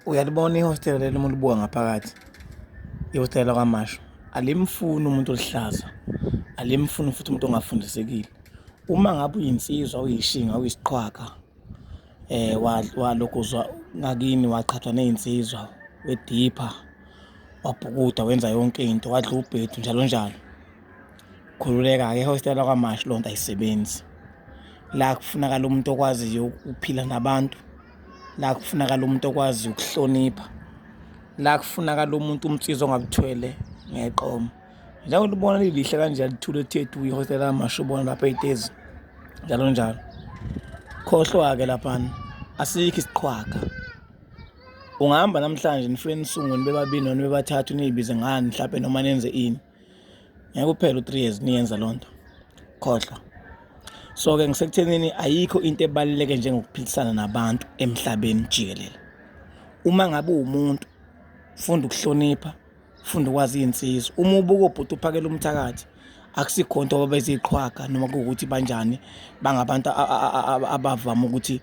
Uyalibona ihostela leli uma ulibuka ngaphakathi ihostela lakwamasho alimfuni umuntu oluhlaza alimfuni futhi umuntu ongafundisekile uma ngabe uyinsizwa uyishinga uyisiqhwaga eh walokuzwa ngakini waqhathwa nezinsizwa wedipha wabhukuda wenza yonke into wadla ubhedu njalo njalo khululeka-ke ihostela lakwamashi loo nto ayisebenzi la kufunakala umuntu okwaziyo ukuphila nabantu la kufunakala umuntu okwaziyo ukuhlonipha la kufunakala umuntu umsizo ongabuthwele ngeqoma njengoba libona lilihle kanje lithule ethethu ihostela lamashi ubona lapha eyitezi njalo njalo khohlwa-ke laphana asikho isiqhwaga ungahamba namhlanje nifike nisungwe nibe babini noma nibe bathathu niyibize ngani mhlawumbe noma nenze ini ngeke uphele u-3 years niyenza loo nto khohlwa so-ke ngisekuthenini ayikho into ebaluleke njengokuphilisana nabantu emhlabeni jikelele uma ngabe uwumuntu funda ukuhlonipha funda ukwazi iy'nsizwa uma ubuka obhuti uphakela umthakathi akusikhonto babeziqhwaga noma kuwukuthi banjani bangabantu abavama ukuthi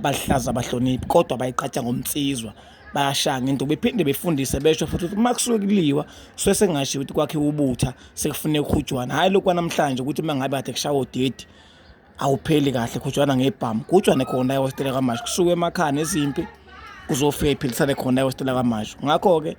bahlaza abahloniphi kodwa bayiqatha ngomtsizwa bayashaya ngento bephinde befundise besho futhi ukuthi uma kusuke kuliwa suke sengashiyo ukuthi kwakhiwa ubutha sekufuneka ukhujwana hhayi lokhu kwanamhlanje ukuthi uma ngabe kade kushawa odidi awupheli kahle khujwana ngebhamu khujwane khona ewestela kamasho kusuke emakhaya nezimpi kuzofika iphilisane khona ewestela kamasho ngakho-ke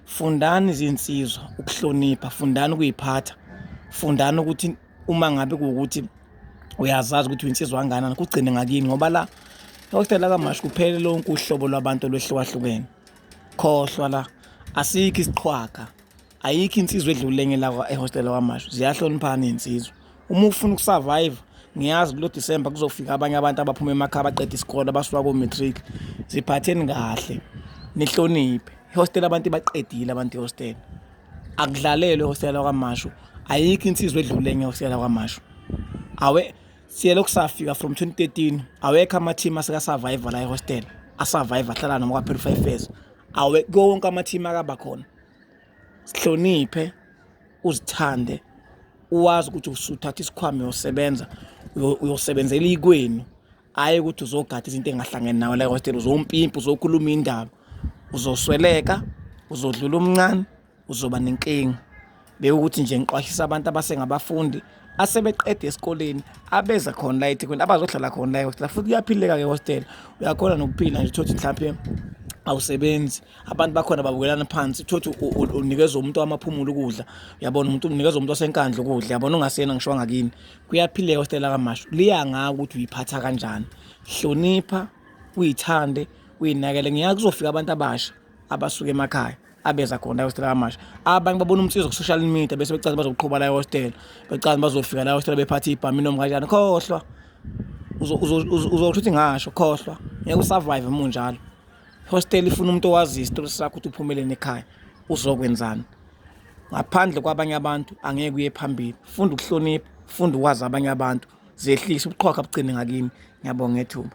fundani izinsizwa ukuhlonipha fundani ukuyiphatha fundani ukuthi uma ngabe kuwukuthi uyazazi ukuthi uyinsizwa kangakanani kugcine ngakini ngoba la ehostela kamashi kuphele lonke uhlobo lwabantu olwehlukahlukene khohlwa la asikho isiqhwaga ayikho insizwa edlule ngelakwa ehostela kwamashi ziyahloniphana iy'nsizwa uma ufuna ukusurvive ngiyazi kulo December kuzofika abanye abantu abaphuma emakhaya baqeda isikole abasuka ko-matric ziphatheni kahle nihloniphe ihostela abantu baqedile abantu ihostela akudlalelwe uSiyela kwaMashu ayikho insizwa edlule enye uSiyela kwaMashu awe Siyela okusafika from 2013 awekho ama-team asekasurvive la ehostel asurvive ahlala noma kwaphela u-five years awe konke ama-team akaba khona sihloniphe uzithande uwazi ukuthi usuthatha isikhwama uyosebenza uyosebenzela ikwenu hhayi ukuthi uzogada izinto engahlangene nawe la hostel uzompimpa uzokhuluma indaba uzosweleka uzodlula umncane uzoba nenkinga bewukuthi nje ngiqwashisa abantu abasengabafundi asebeqede esikoleni abeza khona la ethekwini abazohlala khona la ehostela futhi kuyaphileka-ke ehostela uyakhona nokuphila nje thothi mhlawumpe awusebenzi abantu bakhona babukelana phansi thothi unikeza umuntu wamaphumulo ukudla uyabona umuntu unikeza umuntu wasenkandla ukudla yabona ungasiyena ngisho wangakini kuyaphileka uStella kaMashu liya ngako ukuthi uyiphatha kanjani hlonipha uyithande uyinakele ngiyazi kuzofika abantu abasha abasuke emakhaya abeza khona ehostela kamasha abanye babona umsizo ku-social media bese becaza bazoqhuba la ehostela becaza bazofika la ehostela bephathe ibhami noma kanjani khohlwa uzosho ukuthi ngasho khohlwa ngeke usurvive uma unjalo ihostela ifuna umuntu owaziyo isitori sakho ukuthi uphumele nekhaya uzokwenzani ngaphandle kwabanye abantu angeke uye phambili funda ukuhlonipha funda ukwazi abanye abantu zehlise ubuqhwakha bugcine ngakini ngiyabonga ngethuba